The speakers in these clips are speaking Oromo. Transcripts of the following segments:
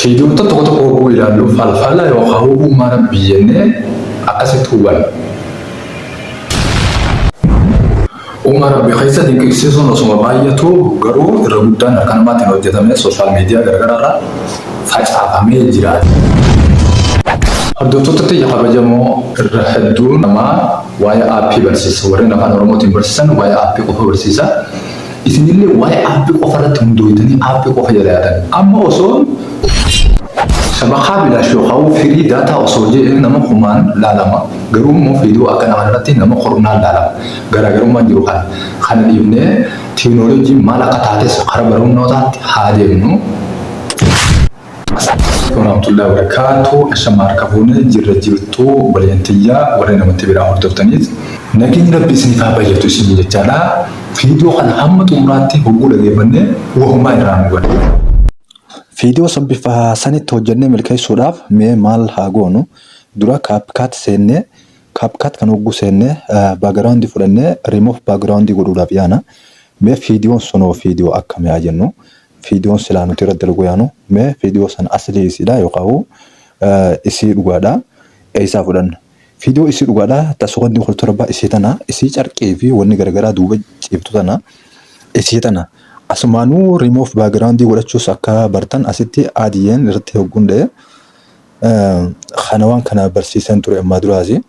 Fiidoota tokko tokko hoguu ilaallu falfala yookaan hubummaa rabbii jennee akkasitti hubanna. Uumaa Rabbii keessa dinqisiisuun osuma baay'atu garuu irra guddaan harka namaatiin hojjetamee sooshaal miidiyaa garagaraarra facaafamee jira. Hordoftoota tiyya kabajamoo irra hedduu namaa waa'ee aappii barsiisa. Warreen afaan Oromootiin barsiisan waa'ee aappii qofa barsiisa. Isinillee waa'ee aappii qofa irratti hundooytanii aappii qofa jala yaatan. Amma osoo shabakaa bilaash yookaan firii daataa osoo je'e nama kumaan laalama. Garuu immoo viidiyoo akkanaa kanarratti nama kurnaan laalama. garaagarummaan jiru kana. Kana dhiifnee tiiknooloojiin maal akka taatessu karaa barnootaatti haa deemnu. Asalamualaikum warahmatullahi wabarakatuh Ashama harka fuune jirra jirtu oboleyan tiyya warren amanti biraa hordoftanit nagenyi rabbi isinif haa bayyatu isinin jechaadha video kana hamma xumuraatti hogguu dhageeffanne wahumaa irraa nu barre video san bifa sanitti hojjannee milkeessuudhaaf mee maal haa goonu dura CapCut seennee Capcut kan hogguu seenne background fudhanne remove background godhuudhaaf yaana. Mee fiidiyoon sunoo fiidiyoo akkamii haa jennu? Fiidiyoon silaa nuti irratti dalaguu yaanu mee fiidiyoo sana asilii isiidha yookaan isii dhugaadha eessaa fudhanna? Fiidiyoo isii dhugaadha ta sekondii kudha torba isii tana isii carqii fi wanni garagaraa duuba ciiftu tana isii tana asumaanuu remove background godhachuus akka bartan asitti aad yeen irratti hogguun dha'e kana waan kana barsiisan ture ammaa duraasi.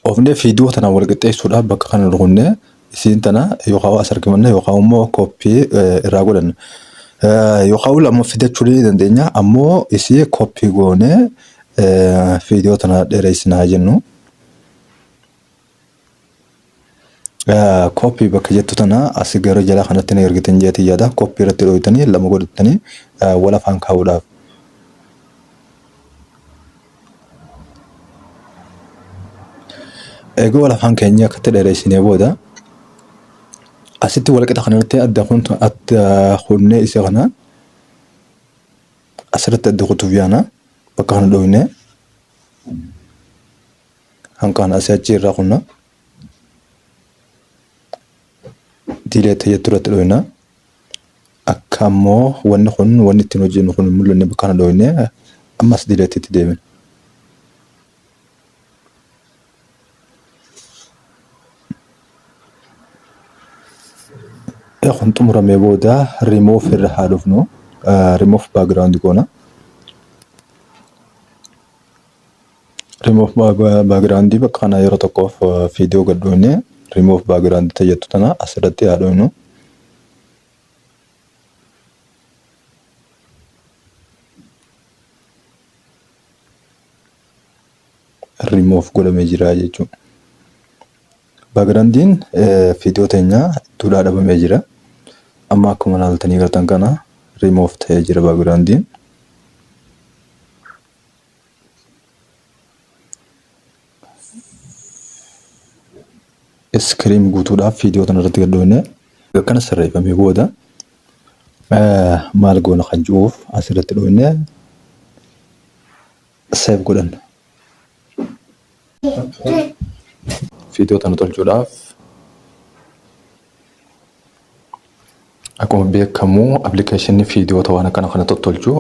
Ofnee fiidiyoo tanaan wal qixxeessuudhaaf bakka kana rukunnee isiin tana yookaan as argimanna yookaan immoo koppii irraa godhanna. Yookaan lama fidachuu ni dandeenya ammoo isii koppii goonee fiidiyoo tana dheereessinaa jennu. Koppii bakka jettu tana asi gara jala kanatti ni ergitan jeetii yaada. Koppii irratti dhooytanii lama godhattanii wal afaan kaa'uudhaaf. Egaa wal afaan keenya akkatti dheeressinee booda asitti wal qixa kanarratti adda kun adda kunnee isa kana asirratti adda kutuuf yaana bakka kana dhooynee. hankaan asii achi irraa kunna diileet jettu irratti dhooyna akka ammoo wanni kun wanni ittiin hojjennu kun mul'anne bakka kana dhooyne ammas diileetitti deebina. kun xumuramee booda remove irra haa dhufnu remove background goona. Remove background bakka kana yeroo tokkoof viidiyoo gad dhoofne remove background ta jettu tana asirratti haa dhoofnu. Remove godhamee jira jechuudha. Backgroundiin viidiyoo teenyaa duudhaa dhabamee jira. Amma akkuma ilaaltanii galtan kana remove ta'ee jira backgroundiin. iskiriin guutuudhaaf viidiyoo kana irratti gad dhoofne akkana sirreeffamee booda maal goona kan jiruuf asirratti dhoofne seef godhanna. Viidiyoo kana tolchuudhaaf Akkuma beekamu appilikeeshinii fiidiyoota waan akkana kana tottolchu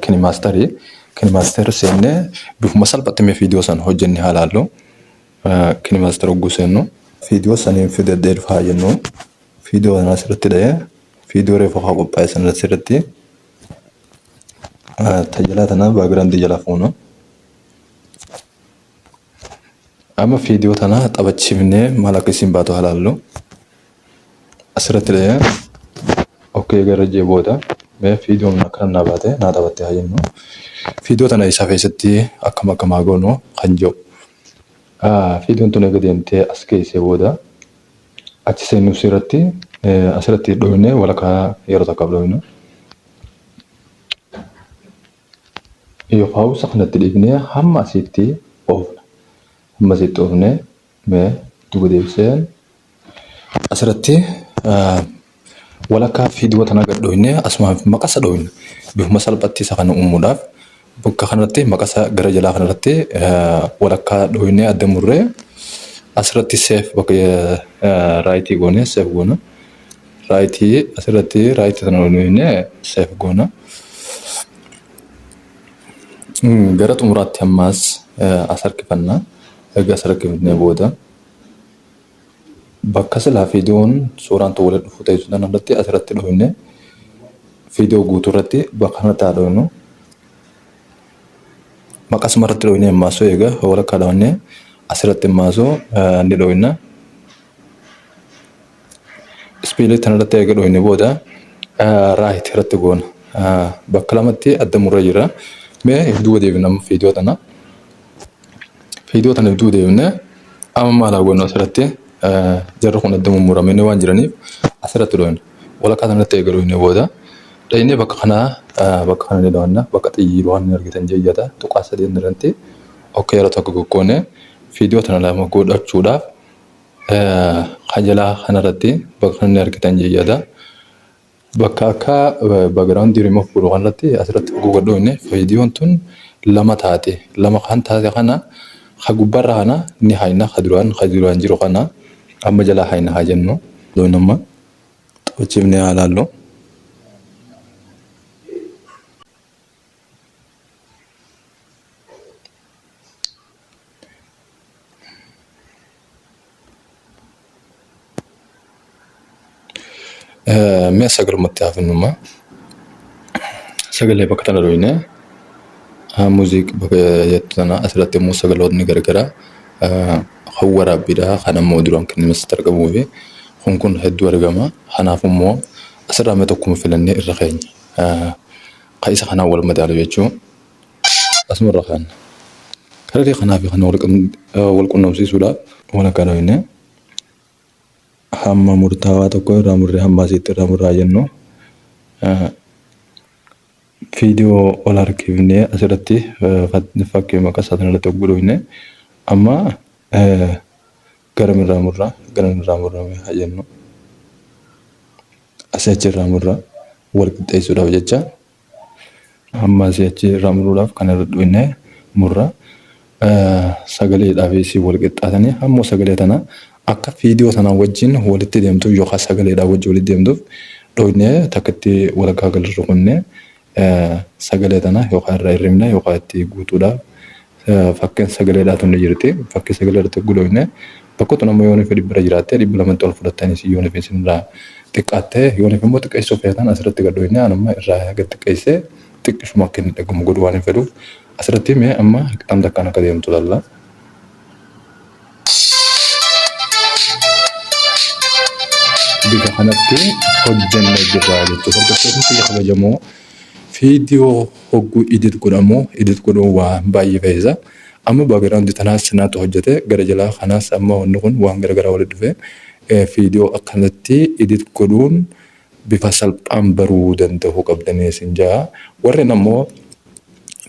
kinimaastarii. Kinimaaster seennee bifuma salphatti mee fiidiyoo sana hojjenne haa laallu. Kinimaaster hogguu seennu. Fiidiyoo saniin fidadhee dhufa haa jennu. Fiidiyoo sana asirratti dha'ee fiidiyoo reefu haa qophaa'e sana asirratti tajaajila sana baagiraandii jala fuunu. Amma fiidiyoo sana taphachiifnee maal akka isiin baatu haa laallu. asirratti dhahee okkee gara jee booda mee fiidoon akkana naa baate naa taphatte haa jennu fiidoo tana isaa keessatti akkam akkam haa goonu kan jiru fiidoon tun eega deemtee as geessee booda achi seenuuf irratti asirratti dhoofne walakkaa yeroo takkaaf dhoofnu yookaan isa kanatti dhiifnee hamma asitti oofna hamma asitti oofne Mee duuba deebisee asirratti walakkaa fi duuba tana gad dhooyne asumaan maqasa dhooyne bifuma salphatti isa kana uumuudhaaf bakka kanarratti maqasa gara jalaa kanarratti walakkaa dhooyne adda murree asirratti seef bakka raayitii goone seef goona raayitii asirratti raayitii tana dhooyne seef goona gara xumuraatti ammaas as harkifanna Erga as rakkifnee booda bakka silaa viidiyoon suuraan tun walitti dhufuu teessu sana irratti asirratti dhooyne viidiyoo guutuu irratti bakka kanatti haa dhooynu. Maqaa suma irratti dhooynee immaasuu eega walakkaa dhooynee asirratti immaasuu ni dhooyna. Ispeelii tana irratti erga dhooyne booda raayit irratti goona. Bakka lamatti adda murree jira. Mee if duuba deebina amma fiidiyoo tana. Fiidiyoo tana if duuba deebine amma maal haa goonu asirratti jarri kun adda mummuramanii waan jiraniif asirratti dhooyna. Walakkaa tana irratti erga dhooyne booda dhaynee bakka kanaa bakka kana ni dhooyna. Bakka xiyyi waan hin argitan jeyyata tuqaa sadeen irratti ok yeroo tokko goggoone fiidiyoo tana lama godhachuudhaaf kajalaa kanarratti bakka inni argitan jeyyada. Bakka akka background remove godhu kanarratti asirratti guugadhu inni viidiyoon tun lama taate. Lama kan taate kana ka gubbarra kana ni hayna ka duraan ka duraan jiru kana amma jalaa hayna haa jennu. Loon amma tochifnee haa laallu. Mi'a sagalumatti hafinuma. Sagalee bakka tana dhooyne muuziq bakka jettu tana asirratti immoo sagalootni gargara. Kan waraabbiidha kan ammoo duraan kenname asitti argamuu fi kun kun hedduu argama. Kanaaf immoo asirraa mi'a tokkuma filannee irra keenya. Kan isa kanaan wal madaalu jechuudha. Asuma irraa kaanna. Karaalee kanaa fi kana wal qunnamsiisuudhaaf waan akka dhooyne hamma murtaawaa tokko irraa murree hamma asiitti irraa murraa jennu viidiyoo ol harkifnee asirratti fakkii maqaa isaa irratti hogguu dhooyne amma garamirraa murraa garamirraa murrame haa jennu asii achi irraa murraa wal qixxeessuudhaaf jecha Amma asii achi irraa muruudhaaf kan irra dhuyne murra. Sagaleedhaaf isin wal qixxaatanii hamma sagalee tana akka viidiyoo tanaa wajjin walitti deemtuuf yookaan sagaleedhaaf wajjin walitti deemtuuf dhuyne takkitti walakkaa galirra kunne sagalee tana yookaan irra hirribne yookaan itti guutuudhaaf Fakken sagalee dhaatu ni jirti. Fakke sagalee irratti hogguu dhoyne bakkoota nama yoonii fi dhibbara jiraattee dhibba lamatti ol fudhatta inis yoonii fi isinirraa xiqqaatte yoonii fi immoo xiqqeessuu feetan asirratti gad dhoyne an amma irraa gad xiqqeesse xiqqishuma akka inni dhagamu godhu waan hin fedhuuf asirratti mee amma haqxaan takkaan akka deemtu lalla. bifa kanatti hojjannee jirra jechuudha. Hordoftoonni biyya kabajamoo viidiyoo hogguu idit godhamu idit godhuun waa baay'ee fayyisa. Amma baagiraawundi tanaas naatu hojjete gara jalaa kanaas amma wanni kun waan gara garaa walitti dhufe viidiyoo akkanatti idit godhuun bifa salphaan baruu dandahuu qabdanii isin ja'a. Warren ammoo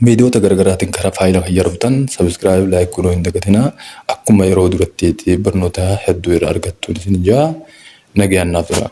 mediyoota gargaraatiin karaa faayila fayyadamtan subscribe like godhuu hin dagatinaa. Akkuma yeroo durattiiti barnoota hedduu irraa argattuun isin ja'a. Nagayaan naaf turaa.